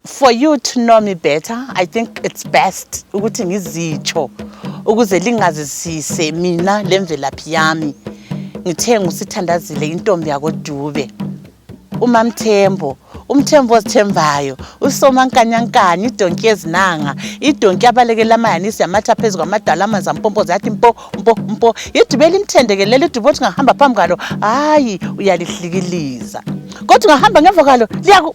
For you to know me better, I think it's best ukuthi ngizitsho ukuze lingazisise mina lemvelaphi yami. Ngithe ngusithandazile intombi yakoDube. UMamthembo umthembu ozithembayo usomankanyankanya idonki yezinanga idonki abalekela amayanisi yamatha phezu kwamadala amanzi ampompoza yathi mpo mpo mpo idube limthendekelele idube othi ngahamba phambi kwalo hhayi uyalihlikiliza kodwa ungahamba ngemva kwalo liyaku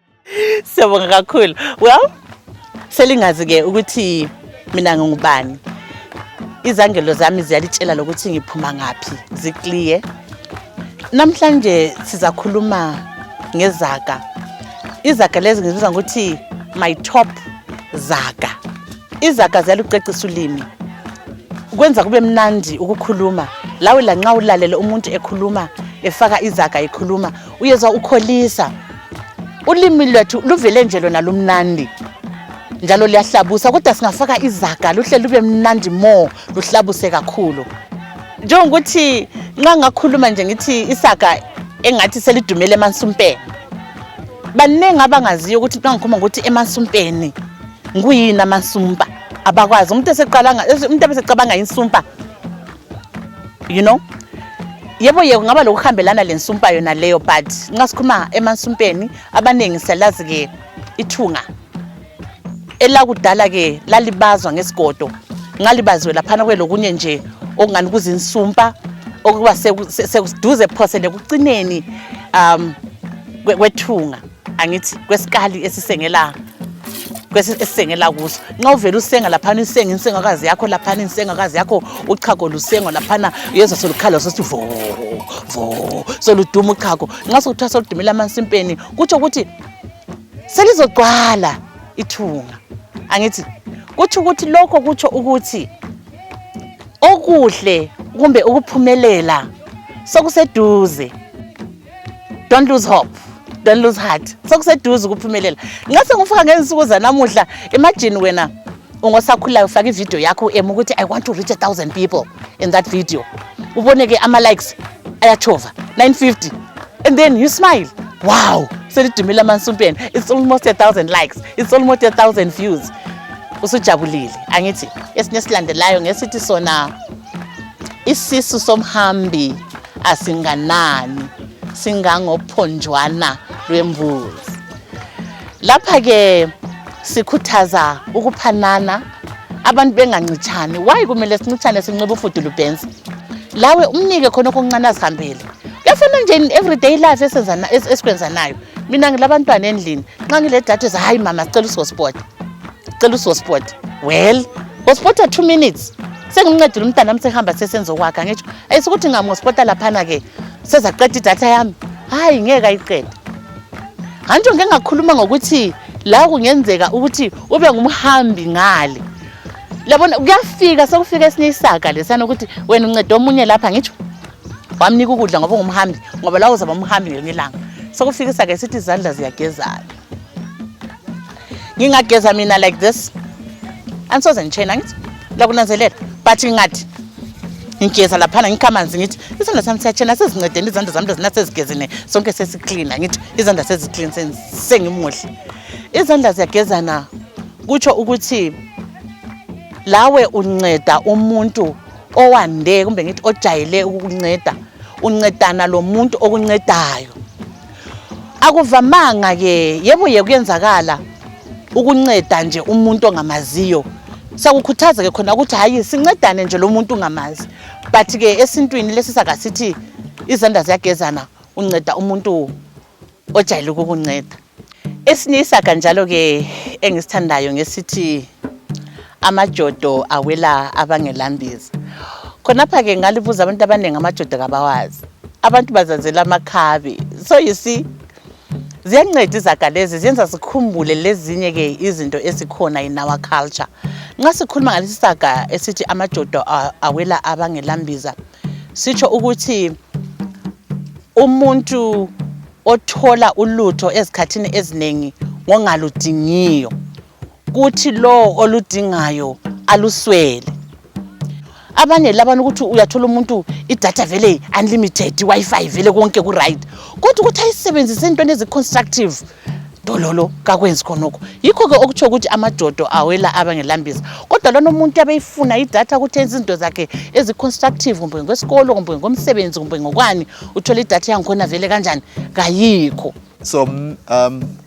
Siyabonga kakhulu. Well, selingazi ke ukuthi mina ngingubani. Izangelo zami ziyalitshela lokuthi ngiphuma ngaphi, ziclear. Namhlanje sizakhuluma ngezaga. Izaga lezi ngizibiza ngokuthi my top zaga. Izaga ziyalucecisa ulimi. Kwenza kube mnandi ukukhuluma. Lawe lanxa ulalele umuntu ekhuluma efaka izaga ekhuluma uyezwa ukholisa ulimi lwethu luvele nje lona lumnandi njalo liyahlabusa kodwa singafaka izaga luhle lube mnandi more luhlabuse kakhulu njengokuthi nxa ngakhuluma nje ngithi isaga engathi selidumele emansumpeni baningi abangaziyo ukuthi nxa ngikhuluma ngokuthi emansumpeni nguyini amansumpa abakwazi umuntu eseqalanga umuntu ebesecabanga insumpa you know yebo ye kungaba lokuhambelana lensumpa yona leyo but nxa sikhuluma emansumpeni abaningi siyalazi ke ithunga elakudala ke lalibazwa ngesigodo ngalibaziwe laphana kwelokunye nje okungani kuzinsumpa okuba sekuduze phose lekucineni um kwethunga angithi kwesikali esisengela esisengela kuso nxa uvele usenga laphana usenga insengakazi yakho laphana insengakazi yakho uchago lusengwa laphana yezo solukhala sothi vo vo soluduma uchago nxa sokuthiwa soludumela amansimpeni kutsho ukuthi selizogcwala ithunga angithi kutsho ukuthi lokho kutsho ukuthi okuhle kumbe ukuphumelela sokuseduze don't lose hope don't lose heart sokuseduze ukuphumelela nxa sengifika ngezinsuku zanamuhla imagine wena ungosakhulayo ufake ividiyo yakho em ukuthi i want to reach a thousand people in that video ubone ke ama-likes ayatshova 950 and then you smile wow selidumile amansumpeni it's almost a thousand likes it's almost a thousand views usujabulile angithi esinye esilandelayo ngesithi sona isisu somhambi asinganani singangophonjwana lwembuzi lapha-ke sikhuthaza ukuphanana abantu bengancitshani wayi kumele sincitshane sinxiba ufudulu bhensi lawe umnike khona okuncane azihambele kuyafana nje in everyday life esikwenzanayo mina ngilabantwana endlini nxa ngile data za hayi mama sicela usosport cela usosport well ospota two minutes sengincedile umntana wami sehamba sesenzokwakha ngitsho ayisukuthi ngamospota laphana ke sezaqeda idatha yami hayi ngeke ayiqeda ngantsho ngike ngakhuluma ngokuthi la kungenzeka ukuthi ube ngumhambi ngale labona kuyafika sekufika esinye isaga lesiyana ukuthi wena unceda omunye lapha ngitsho wamnika ukudla ngoba ungumhambi ngoba lawo uzaba umhambi ngelinye ilanga sekufika isaga esithi izandla ziyagezana ngingageza mina like this andisoze nditshena ngithi lakunanzelela but ingathi ngigeza laphana ngikha amanzi ngithi isandla sami siyatshena sezincedeni izandla zami lezina sezigezene sonke sesiklina ngithi izandla seziklin sengimuhle izandla ziyagezana kutsho ukuthi lawe unceda umuntu owande kumbe ngithi ojayele ukukunceda uncedana lo muntu okuncedayo Akuvamanga ke yebo yekuyenzakala ukunceda nje umuntu ongamaziyo siyakukhuthaza ke khona ukuthi hayi sincedane nje lo muntu ungamazi but ke esintwini lesi saka sithi izandla ziyagezana unceda umuntu ojayele ukukunceda esinye isaga njalo ke engisithandayo ngesithi amajodo awela abangelambiza khonapha-ke ngalibuza abantu abaningi amajodo kabawazi abantu bazazela amakhabi so you see ziyanceda izaga lezi ziyenza sikhumbule lezinye-ke izinto ezikhona in our culture nxa sikhuluma ngalesi saga esithi amajodo awela abangelambiza sitsho ukuthi umuntu othola ulutho ezikhathini eziningi ngongaludingiyo kuthi lowo oludingayo aluswele abanye labana ukuthi uyathola umuntu idatha vele unlimited i-wi-fi vele konke ku-right kodwa ukuthi ayisebenzise entweni ezi-constructive dololo kakwenzi khonokho yikho-ke okutsho ukuthi amajodo awela abangelambisa kodwa lona umuntu abeyifuna idatha ukuthi enze izinto zakhe ezi-constructive kumbe ngokwesikolo kumbe ngomsebenzi kumbe ngokwani uthole idatha yangikhona vele kanjani kayikho so um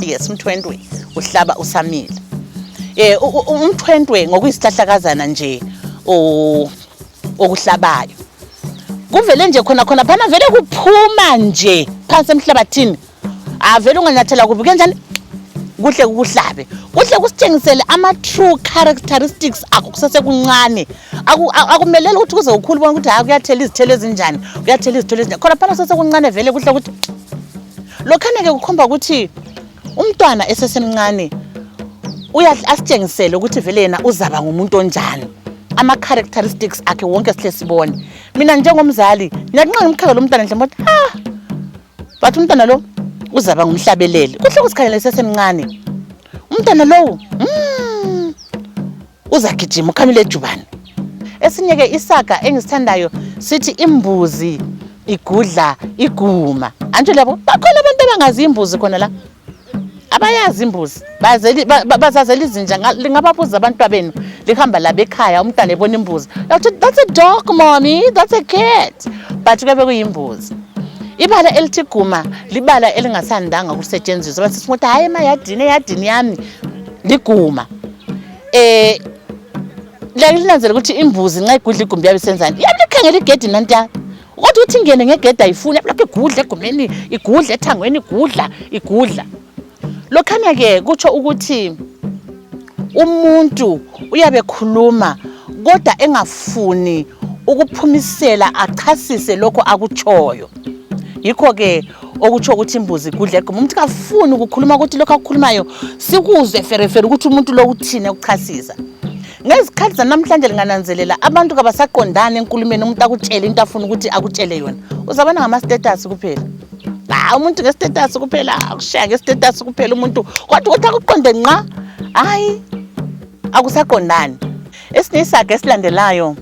yes umthwentwe uhlaba usamile eh umthwentwe ngokuyisihlahlakazana nje okuhlabayo kuvele nje khona khona phana vele kuphuma nje phansi emhlabathini avele unganyathela kubi kanjani kuhle kukuhlabe kuhle kusitshengisele ama-true characteristics akho kusesekuncane akumeleli ukuthi kuze ukhulu bona ukuthi hayi kuyathela izithelo ezinjani kuyathela izithelo ezinjani khona phana sesekuncane vele kuhle ukuthi lokhana-ke kukhomba ukuthi umntwana esesemncane asitshengisele ukuthi vele yena uzaba ngumuntu onjani ama-characteristics akhe wonke sihle sibone mina njengomzali ngiyakunxenga umkhakha lo mntwana nje moti ha bathi umntwana lo uzaba ngumhlabeleli kuhle kusikhalela esesemncane umntwana lowo mm, uzagijima ukhamile ejubane esinye ke isaga engisithandayo sithi imbuzi igudla iguma antsho labo bakhona abantu abangazi imbuzi khona la abayazi imbuzi bazazela izinja lingababuza abantwa benu lihamba labo ekhaya umntwana ebona imbuzi yakuthi that's a dog mommy that's a cat but kuyabe kuyimbuzi ibala elithi guma libala elingasandanga ukusetshenziswa basisithi ukuthi hhayi emayadini eyadini yami liguma Eh lakulinanzela ukuthi imbuzi nxa igudla igumbi yabe senzani. Yabe ikhangela igedi nantiya. Kodwa uthi ingene ngegedi ayifuni yabe lokhu igudla egumbini, igudla ethangweni, igudla, igudla. Lokhana ke kutsho ukuthi umuntu uyabe khuluma kodwa engafuni ukuphumisela achasise lokho akutshoyo. yikho-ke okutsho ukuthi imbuzi igudla egquma umuntu kafuni ukukhuluma ukuthi lokho akukhulumayo sikuzwe ferefere ukuthi umuntu lo uthini ekuchasisa ngezikhathi zanamhlanje lingananzelela abantu kabasaqondani enkulumeni umuntu akutshele into afuna ukuthi akutshele yona uzabona ngamastatus kuphela hayi umuntu ngestatus kuphela akushaya ngestatus kuphela umuntu kodwa ukuthi akuqonde nqa hayi akusaqondani esinye isaga esilandelayo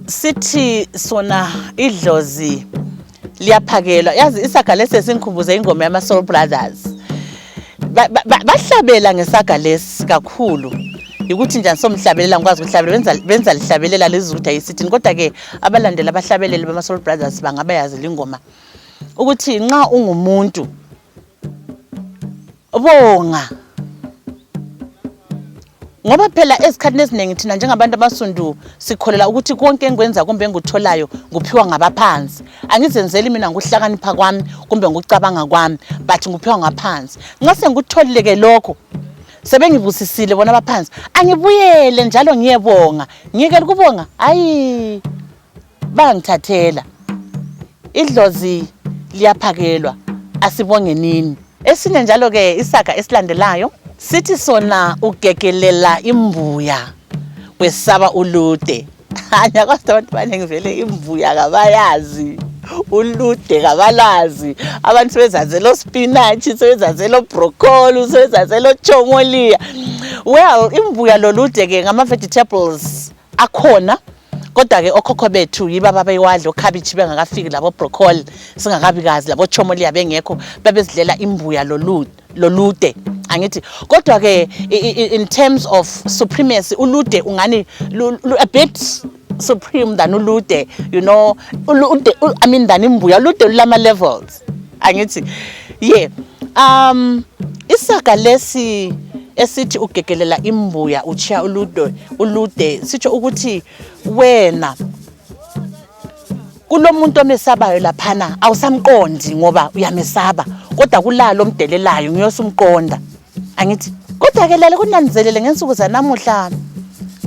Sithi sona idlozi liyaphakelwa. Yazi isaga lesi sesingikhumbuze ingoma yama Soul Brothers. Ba- ba- ba- Bahlabela ngesaga lesi kakhulu. Yikuthi njani somhlabelela ngikwazi ukuhlabela benza benza lihlabelela lizwe ukuthi ayisithini kodwa ke abalandeli abahlabeleli bama Soul Brothers bangaba yazi lingoma ukuthi nxa ungumuntu Bonga. Ngoba phela ezikhathini eziningi thina njengabantu abasundu sikholela ukuthi konke engikwenza kumbe engikutholayo nguphiwa ngabaphansi. Angizenzeli mina ngokuhlakanipha kwami kumbe ngokucabanga kwami, but nguphiwa ngaphansi. Nxa sengikutholile ke lokho sebengibusisile bona abaphansi, angibuyele njalo ngiyebonga. Ngiyekela ukubonga? Hayi. Bangithathela idlozi liyaphakelwa asibongenini. Esinye njalo ke isaga esilandelayo sithi sona ugegelela imbuya wesaba ulude. Hanya kodwa abantu banengi vele imbuya kabayazi ulude kabalazi abantu sebezazela ospinatshi sebezazela obrocoli sebezazela ochomolia well imbuya lolude ke ngama vegetables akhona kodwa ke okhokho bethu yiba babewadla okhabitshi bengakafiki labo broccoli singakabikazi labo chomolia bengekho babezidlela imbuya lolude lolude angithi kodwa ke in terms of supremacy ulude ungani a bit supreme than ulude you know ulude i mean than imbuya ulude lulama levels angithi ye um isaga lesi esithi ugegelela imbuya utshiya ulude ulude sitsho ukuthi wena kulomuntu omesabayo laphana awusamqondi ngoba uyamesaba kodwa kulalo omdelelayo ngiyosumqonda angithi kodwa ke lale kunanzelele ngensuku zanamuhla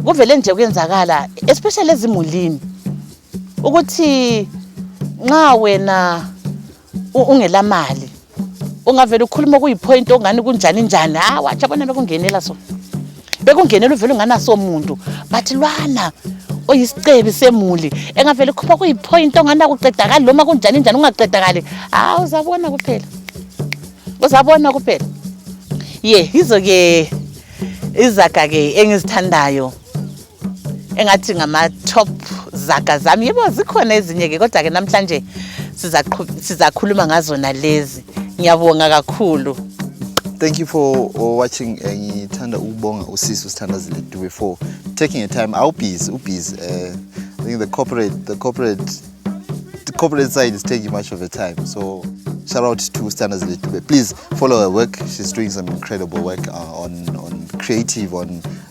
kuvele nje kuyenzakala especially ezimulini ukuthi nxa wena ungela mali ungavele ukhuluma kuyipoint ongani kunjani njani ha ah, watsha bona bekungenela so bekungenela uvele unganaso muntu but lwana oyisicebi semuli engavele khupha kuyipoint ongani akuqedakali loma kunjani njani ungaqedakali ha ah, uzabona kuphela uzabona kuphela ye yizo-ke izaga-ke engizithandayo engathi ngama-top zaga zami yebo zikhona ezinye-ke kodwa-ke namhlanje sizakhuluma ngazona lezi ngiyabonga kakhulu thank you for uh, watching eh, ngithanda uh, ukubonga usisi usithandazile dube for taking a time awubhizi ubhizi um eh, i think the corporate the corporate the corporate side is taking much of a time so shout out to standards dube please follow her work she's doing some incredible work uh, on on creative on